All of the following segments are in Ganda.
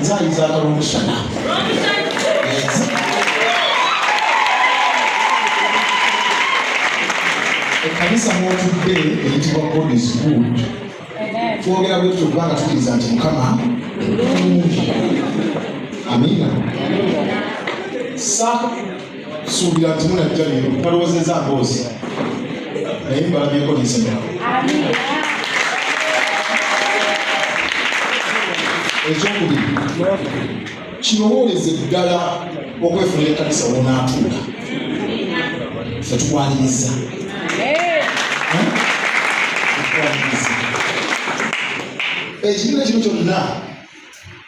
Nzali za Karushana. Ekanisa mwotudde eyitibwa God is good. Twogera bwetyo kubanga tukiriza nti Mukama Amina. Sa suubira nti munajja leero talowoozeza mboozi naye mbalabyeko lizima ekyokubiri kirowooleze ddala okwefunira ekanisa wonaatuula fe tukwaniriza ekibiina kino kyonna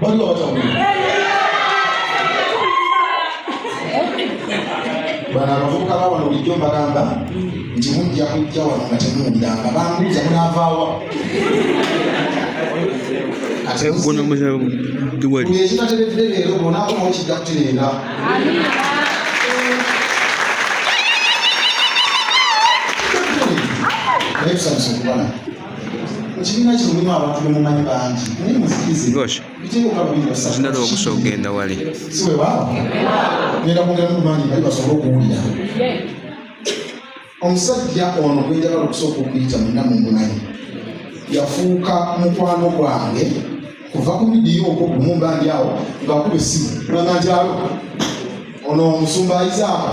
Bali watamu. Bana abavubuka ba wano bulijjo mbagamba nti mujja kujja wano nga temuwuliranga bambuuza munaavaawa ekitateredde leero bonaakoma okijja kutereera naye tusanyusa okubala ekibiina kino mulimu abantu bemumanyi bangi naye musikizebitekukabuliasinada okusa okugenda wali siwewaawo genda kwongera mumanyi bali basobole okuwulira omusajja ono gwenjagala okusooka okuyita muna mumumanyi yafuuka mukwano gwange kuva ku midiyo okwo kumumbandi awo ngakuba essimu nananjalo ono omusumba ayizaako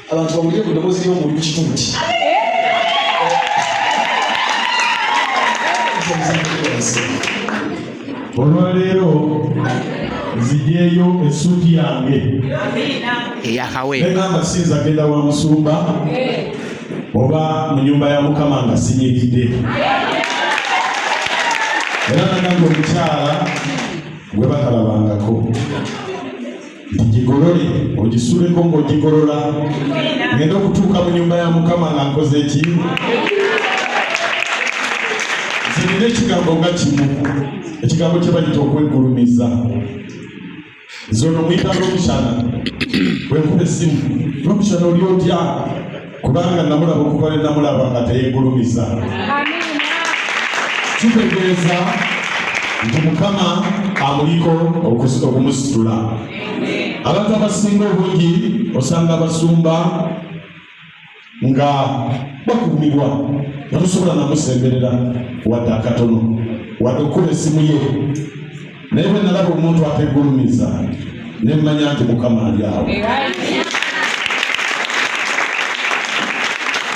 abantu bawulire ku ddoboozi ly'omuli ku kituuti olwaleero nzijeeyo essuuti yange eyakaweegamba siyinza genda wa musumba oba mu nyumba ya mukama nga sinyiridde era nagamba omukyala gwe batalabangako ngigolole ogisuleko ng'ogigolola ngenda okutuuka mu nyumba ya mukama nga nkoze eki zirina ekigambo nga kimu ekigambo kye bayita okweggulumiza nze ono muyita lwomukyana bwenkuba essimu lwomukyana oli otya kubanga namulaba okuva lwe namulaba nga teyegulumiza kitegeeza nti mukama amuliko okumusitula abantu abasinga obungi osanga abasumba nga bakuumibwa nga tosobola namusemberera wadde akatono wadde okukuba esimu ye naye bwe nalaba omuntu ategulumiza ne mmanya nti mukama ali awo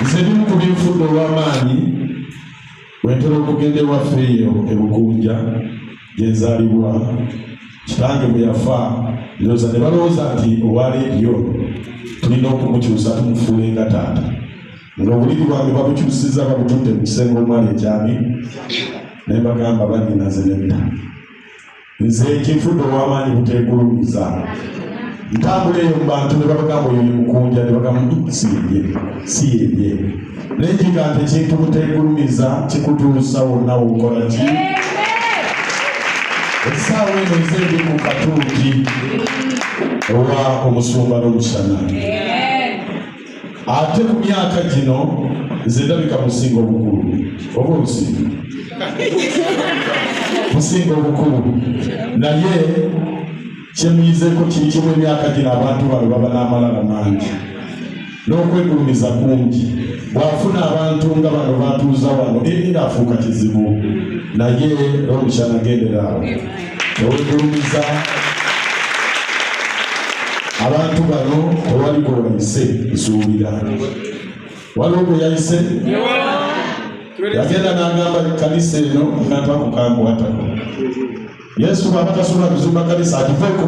nze bimu ku binfudde olw'amaanyi wentera okugenda ewaffe eyo ebukunja gyenzaalibwa kitange bwe yafa ndoza ne balowooza nti owa leediyo tulina okumukyusa tumufuule nga taata ng'obulimu bwange babukyusiza babutudde mu kisenge omwali ekyami ne mbagamba banyinaze nedda nze ekinfudde ow'amaanyi buteegulumiza ntambula eyo mu bantu ne babagamba oyo mukunja ne bagamba siyebye siyebye naye kiga nti ekintu buteegulumiza kikutuusa wonna wokola ki esaawa eno nze ndi mu katuuti owa omusumba n'omusana ate ku myaka gino nze ndabika musinga obukulu oba obusinga musinga obukulu naye kyemuyizeko kiri kimu emyaka gino abantu bano baba n'amalala mangi n'okwegulumiza kungi bw'afuna abantu nga bano batuuza wano eri ng'afuuka kizibu naye n'omukyanagendera awo tewegulumiza abantu bano tewali gwe wayise nsuubira waliwo gwe yayise yagenda n'agamba ekkanisa eno nata kukankwatako yesu bwaba tasobola kuzimba kanisa atuveko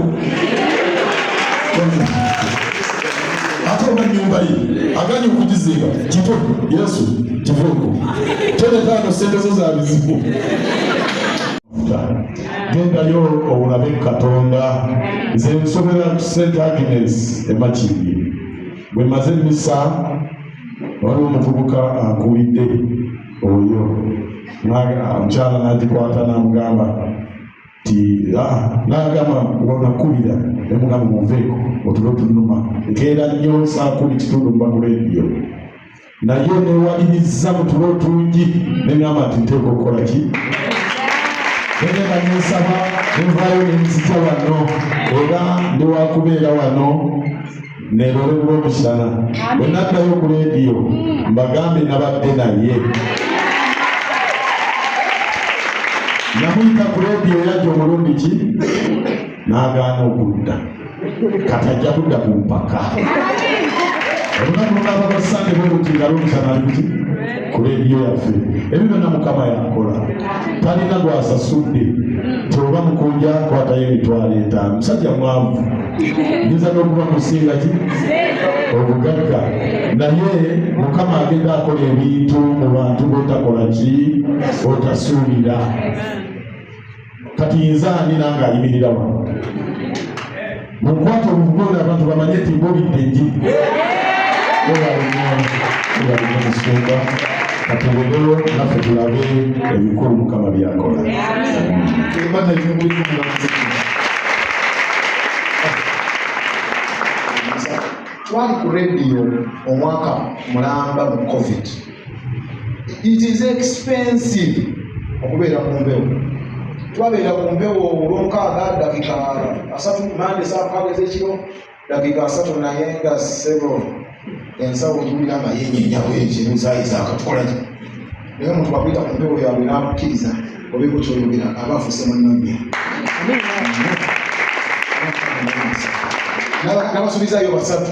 ate oba nyumba ye aganye okugizimba kito yesu kiveko tolekaano sente zo za bizibu gendayo owulabe katonda nze nsobera ku st agnes emakindi bwemaze emisa waliwo omuvubuka akuwidde oyo omukyala nagikwata namugamba ti ah, nagamba wanakulira nemugamba muveeko otulo tunuma nkeera nnyo saakuli kitundu mubakulediyo naye newalirizza mu tulo tungi neŋamba nti nteeka okukola ki negenda nensaba nenvayo nenzija wano era ndiwakubeera wano nerolebula omusana bwenaddayo ku lediyo mbagambe nabadde naye namuyita ku lediyo yajja omulundi ki n'agaana okudda kati ajja kudda ku mpaka olunaku lunabagasande bwebutinga lwomusana luti ku leediyo yaffe ebyo byonna mukama yakola talina gwasasudde tioba mukunja kwatayo emitwalo etaano musajja mwavu nyinza n'okuba musinga ki obugagga naye mukama agenda akola ebintu mu bantu botakola ki otasuubira kati nze ani nange ayimirira wano mukwata obugonda abantu bamanye ti bobidde nji omusumba katubegolo naffe tulabe ebikulu mukama byakola twali ku rediyo omwaka mulamba mu covid it is expensive okubeera ku mbewo twabeera ku mbewo olwomukaaga dakika asatu mande saakaaga ezekiro dakika asatu naye nga sebo ensawo ojulira nga yenyenyawo ekiruzayiza akatukolaki naye omuntu wakwita ku mbewo yabwe nakukkiriza obekukyoyogera aba afuse munonya nabasubizayo basatu